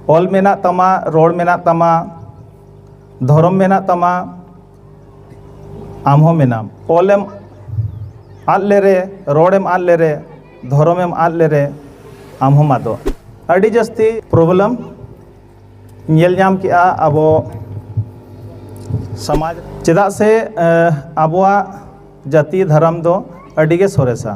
ᱚᱞ ᱢᱮᱱᱟᱜ ᱛᱟᱢᱟ ᱨᱚᱲ ᱢᱮᱱᱟᱜ ᱛᱟᱢᱟ ᱫᱷᱚᱨᱚᱢ ᱢᱮᱱᱟᱜ ᱛᱟᱢᱟ ᱟᱢ ᱦᱚᱸ ᱢᱮᱱᱟᱢ ᱚᱞᱮᱢ ᱟᱫ ᱞᱮᱨᱮ ᱨᱚᱲᱮᱢ ᱟᱫ ᱞᱮᱨᱮ ᱫᱷᱚᱨᱚᱢᱮᱢ ᱟᱫ ᱞᱮᱨᱮ ᱟᱢ ᱦᱚᱸᱢ ᱟᱫᱚᱜ ᱟᱹᱰᱤ ᱡᱟᱹᱥᱛᱤ ᱯᱨᱚᱵᱞᱮᱢ ᱧᱮᱞ ᱧᱟᱢ ᱠᱮᱜᱼᱟ ᱟᱵᱚ ᱥᱚᱢᱟᱡᱽ ᱪᱮᱫᱟᱜ ᱥᱮ ᱟᱵᱚᱣᱟᱜ ᱡᱟᱹᱛᱤ ᱫᱷᱚᱨᱚᱢ ᱫᱚ ᱟᱹᱰᱤ ᱜᱮ ᱥᱚᱨᱮᱥᱟ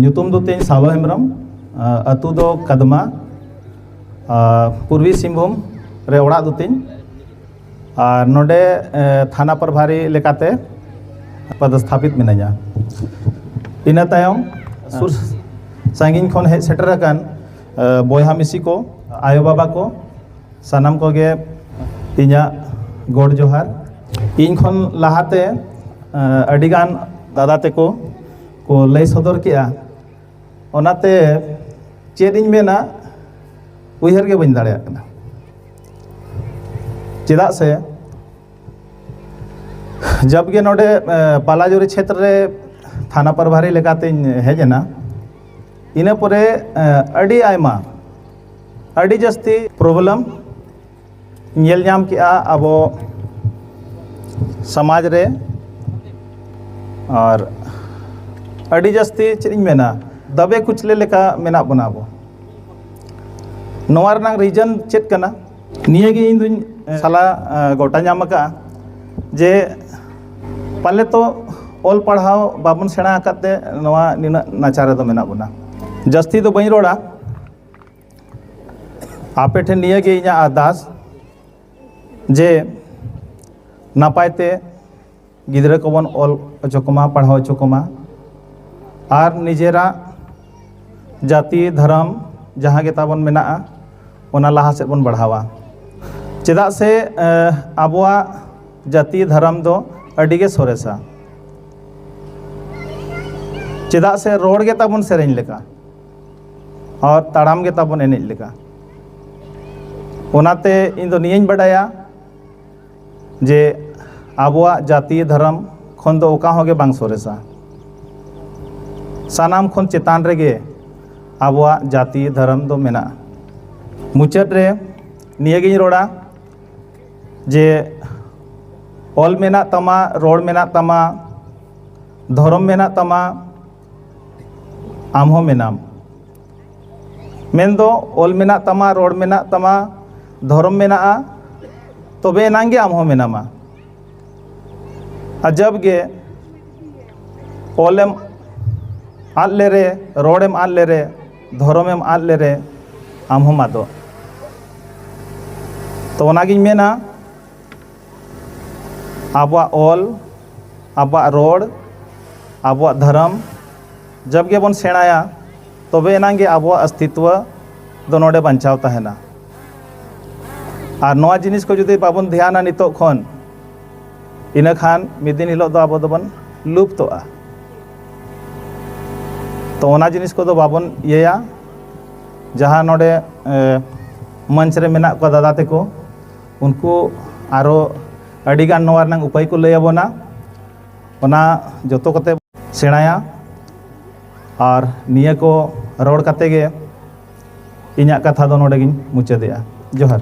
ᱧᱩᱛᱩᱢ ᱫᱚ ᱛᱤᱧ ᱥᱟᱞᱚ ᱦᱮᱢᱵᱨᱚᱢ ᱟᱹᱛᱩ ᱫᱚ ᱠᱟᱫᱢᱟ ᱯᱩᱨᱵᱤ ᱥᱤᱝᱵᱷᱩᱢ ᱨᱮ ᱚᱲᱟᱜ ᱫᱚ ᱛᱤᱧ ᱟᱨ ᱱᱚᱰᱮ ᱛᱷᱟᱱᱟ ᱯᱨᱚᱵᱷᱟᱨᱤ ᱞᱮᱠᱟᱛᱮ ᱯᱚᱫᱚᱥᱛᱷᱟᱯᱤᱛ ᱢᱤᱱᱟᱹᱧᱟ ᱤᱱᱟᱹ ᱛᱟᱭᱚᱢ ᱥᱩᱨ ᱥᱟᱺᱜᱤᱧ ᱠᱷᱚᱱ ᱦᱮᱡ ᱥᱮᱴᱮᱨ ᱟᱠᱟᱱ ᱵᱚᱭᱦᱟ ᱢᱤᱥᱤ ᱠᱚ ᱟᱭᱳ ᱵᱟᱵᱟ ᱠᱚ ᱥᱟᱱᱟᱢ ᱠᱚᱜᱮ ᱤᱧᱟᱹᱜ ᱜᱚᱰ ᱡᱚᱦᱟᱨ ᱤᱧ ᱠᱷᱚᱱ ᱞᱟᱦᱟᱛᱮ ᱟᱹᱰᱤᱜᱟᱱ ᱫᱟᱫᱟ ᱛᱮᱠᱚ ᱠᱚ ᱞᱟᱹᱭ ᱥᱚᱫᱚᱨ ᱠᱮᱜᱼᱟ ᱚᱱᱟᱛᱮ ᱪᱮᱫ ᱤᱧ ᱢᱮᱱᱟ ᱩᱭᱦᱟᱹᱨ ᱜᱮ ᱵᱟᱹᱧ ᱫᱟᱲᱮᱭᱟᱜ ᱠᱟᱱᱟ ᱪᱮᱫᱟᱜ ᱥᱮ ᱡᱟᱵᱜᱮ ᱱᱚᱰᱮ ᱯᱟᱞᱟᱡᱩᱨᱤ ᱪᱷᱮᱛᱨᱚ ᱨᱮ ᱛᱷᱟᱱᱟ ᱯᱨᱚᱵᱷᱟᱨᱤ ᱞᱮᱠᱟᱛᱤᱧ ᱦᱮᱡ ᱮᱱᱟ ᱤᱱᱟᱹ ᱯᱚᱨᱮ ᱟᱹᱰᱤ ᱟᱭᱢᱟ ᱟᱹᱰᱤ ᱡᱟᱹᱥᱛᱤ ᱯᱨᱚᱵᱞᱮᱢ ᱧᱮᱞ ᱧᱟᱢ ᱠᱮᱜᱼᱟ ᱟᱵᱚ ᱥᱚᱢᱟᱡᱽ ᱨᱮ ᱟᱨ ᱟᱹᱰᱤ ᱡᱟᱹᱥᱛᱤ ᱪᱮᱫ ᱤᱧ ᱢᱮᱱᱟ ᱫᱟᱵᱮ ᱠᱩᱪᱞᱟᱹ ᱞᱮᱠᱟ ᱢᱮᱱᱟᱜ ᱵᱚᱱᱟ ᱟᱵᱚ ᱱᱚᱣᱟ ᱨᱮᱱᱟᱜ ᱨᱤᱡᱚᱱ ᱪᱮᱫ ᱠᱟᱱᱟ ᱱᱤᱭᱟᱹᱜᱮ ᱤᱧ ᱫᱩᱧ ᱥᱟᱞᱟ ᱜᱚᱴᱟ ᱧᱟᱢ ᱟᱠᱟᱫᱼᱟ ᱡᱮ ᱯᱟᱞᱮ ᱛᱚ ᱚᱞ ᱯᱟᱲᱦᱟᱣ ᱵᱟᱵᱚᱱ ᱥᱮᱬᱟ ᱟᱠᱟᱫ ᱛᱮ ᱱᱚᱣᱟ ᱱᱤᱱᱟᱹᱜ ᱱᱟᱪᱟᱨ ᱨᱮᱫᱚ ᱢᱮᱱᱟᱜ ᱵᱚᱱᱟ ᱡᱟᱹᱥᱛᱤ ᱫᱚ ᱵᱟᱹᱧ ᱨᱚᱲᱟ ᱟᱯᱮ ᱴᱷᱮᱱ ᱱᱤᱭᱟᱹᱜᱮ ᱤᱧᱟᱹᱜ ᱟᱨᱫᱟᱥ ᱡᱮ ᱱᱟᱯᱟᱭ ᱛᱮ ᱜᱤᱫᱽᱨᱟᱹ ᱠᱚᱵᱚᱱ ᱚᱞ ᱦᱚᱪᱚ ᱠᱚᱢᱟ ᱯᱟᱲᱦᱟᱣ ᱦᱚᱪᱚ ᱠᱚᱢᱟ ᱟᱨ ᱱᱤᱡᱮᱨᱟᱜ ᱡᱟᱹᱛᱤ ᱫᱷᱚᱨᱚᱢ ᱡᱟᱦᱟᱸ ᱜᱮ ᱛᱟᱵᱚᱱ ᱢᱮᱱᱟᱜᱼᱟ ᱚᱱᱟ ᱞᱟᱦᱟ ᱥᱮᱫ ᱵᱚᱱ ᱵᱟᱲᱦᱟᱣᱟ ᱪᱮᱫᱟᱜ ᱥᱮ ᱟᱵᱚᱣᱟᱜ ᱡᱟᱹᱛᱤ ᱫᱷᱚᱨᱚᱢ ᱫᱚ ᱟᱹᱰᱤ ᱜᱮ ᱥᱚᱨᱮᱥᱟ ᱪᱮᱫᱟᱜ ᱥᱮ ᱨᱚᱲ ᱜᱮ ᱛᱟᱵᱚᱱ ᱥᱮᱨᱮᱧ ᱞᱮᱠᱟ ᱟᱨ ᱛᱟᱲᱟᱢ ᱜᱮ ᱛᱟᱵᱚᱱ ᱮᱱᱮᱡ ᱞᱮᱠᱟ ᱚᱱᱟᱛᱮ ᱤᱧ ᱫᱚ ᱱᱤᱭᱟᱹᱧ ᱵᱟᱰᱟᱭᱟ ᱡᱮ ᱟᱵᱚᱣᱟᱜ ᱡᱟᱹᱛᱤ ᱫᱷᱚᱨᱚᱢ ᱠᱷᱚᱱ ᱫᱚ ᱚᱠᱟ ᱦᱚᱸ ᱜᱮ ᱵᱟᱝ ᱥᱚᱨᱮᱥᱟ ᱥᱟᱱᱟᱢ ᱠᱷᱚᱱ ᱪᱮᱛᱟᱱ ᱨᱮᱜᱮ ᱟᱵᱚᱣᱟᱜ ᱡᱟᱹᱛᱤ ᱫᱷᱚᱨᱚᱢ ᱫᱚ ᱢᱮᱱᱟᱜᱼᱟ ᱢᱩᱪᱟᱹᱫ ᱨᱮ ᱱᱤᱭᱟᱹᱜᱤᱧ ᱨᱚᱲᱟ ᱡᱮ ᱚᱞ ᱢᱮᱱᱟᱜ ᱛᱟᱢᱟ ᱨᱚᱲ ᱢᱮᱱᱟᱜ ᱛᱟᱢᱟ ᱫᱷᱚᱨᱚᱢ ᱢᱮᱱᱟᱜ ᱛᱟᱢᱟ ᱟᱢ ᱦᱚᱸ ᱢᱮᱱᱟᱢ ᱢᱮᱱᱫᱚ ᱚᱞ ᱢᱮᱱᱟᱜ ᱛᱟᱢᱟ ᱨᱚᱲ ᱢᱮᱱᱟᱜ ᱛᱟᱢᱟ ᱫᱷᱚᱨᱚᱢ ᱢᱮᱱᱟᱜᱼᱟ ᱛᱚᱵᱮ ᱮᱱᱟᱝ ᱜᱮ ᱟᱢ ᱦᱚᱸ ᱢᱮᱱᱟᱢᱟ ᱟᱡᱟᱵᱽ ᱜᱮ ᱚᱞᱮᱢ ᱟᱫ ᱞᱮᱨᱮ ᱨᱚᱲᱮᱢ ᱟᱫ ᱞᱮᱨᱮ ᱫᱷᱚᱨᱚᱢᱮᱢ ᱟᱫ ᱞᱮᱨᱮ ᱟᱢ ᱦᱚᱸᱢ ᱟᱫᱚᱜ ᱛᱚ ᱚᱱᱟᱜᱤᱧ ᱢᱮᱱᱟ ᱟᱵᱚᱣᱟᱜ ᱚᱞ ᱟᱵᱚᱣᱟᱜ ᱨᱚᱲ ᱟᱵᱚᱣᱟᱜ ᱫᱷᱚᱨᱚᱢ ᱡᱚᱵᱽ ᱜᱮᱵᱚᱱ ᱥᱮᱬᱟᱭᱟ ᱛᱚᱵᱮ ᱮᱱᱟᱝ ᱜᱮ ᱟᱵᱚᱣᱟᱜ ᱚᱥᱛᱤᱛᱣᱚ ᱫᱚ ᱱᱚᱰᱮ ᱵᱟᱧᱪᱟᱣ ᱛᱟᱦᱮᱱᱟ ᱟᱨ ᱱᱚᱣᱟ ᱡᱤᱱᱤᱥ ᱠᱚ ᱡᱩᱫᱤ ᱵᱟᱵᱚᱱ ᱫᱷᱮᱭᱟᱱᱟ ᱱᱤᱛᱚᱜ ᱠᱷᱚᱱ ᱤᱱᱟᱹ ᱠᱷᱟᱱ ᱢᱤᱫ ᱫᱤᱱ ᱦᱤᱞᱳᱜ ᱫᱚ ᱟᱵᱚ ᱫᱚᱵᱚᱱ ᱞᱩᱯᱛᱚᱜᱼᱟ ᱛᱚ ᱚᱱᱟ ᱡᱤᱱᱤᱥ ᱠᱚᱫᱚ ᱵᱟᱵᱚᱱ ᱤᱭᱟᱹᱭᱟ ᱡᱟᱦᱟᱸ ᱱᱚᱰᱮ ᱢᱚᱧᱪ ᱨᱮ ᱢᱮᱱᱟᱜ ᱠᱚᱣᱟ ᱫᱟᱫᱟ ᱛᱟᱠᱚ ᱩᱱᱠᱩ ᱟᱨᱚ ᱟᱹᱰᱤ ᱜᱟᱱ ᱱᱚᱣᱟ ᱨᱮᱱᱟᱜ ᱩᱯᱟᱹᱭ ᱠᱚ ᱞᱟᱹᱭ ᱟᱵᱚᱱᱟ ᱚᱱᱟ ᱡᱚᱛᱚ ᱠᱟᱛᱮ ᱥᱮᱬᱟᱭᱟ ᱟᱨ ᱱᱤᱭᱟᱹ ᱠᱚ ᱨᱚᱲ ᱠᱟᱛᱮ ᱜᱮ ᱤᱧᱟᱹᱜ ᱠᱟᱛᱷᱟ ᱫᱚ ᱱᱚᱰᱮ ᱜᱤᱧ ᱢᱩᱪᱟᱹᱫᱮᱜᱼᱟ ᱡᱚᱦᱟᱨ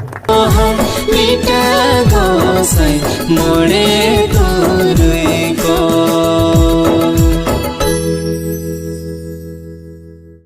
ᱢᱚᱬᱮ ᱛᱩᱨᱩᱭ ᱠᱚ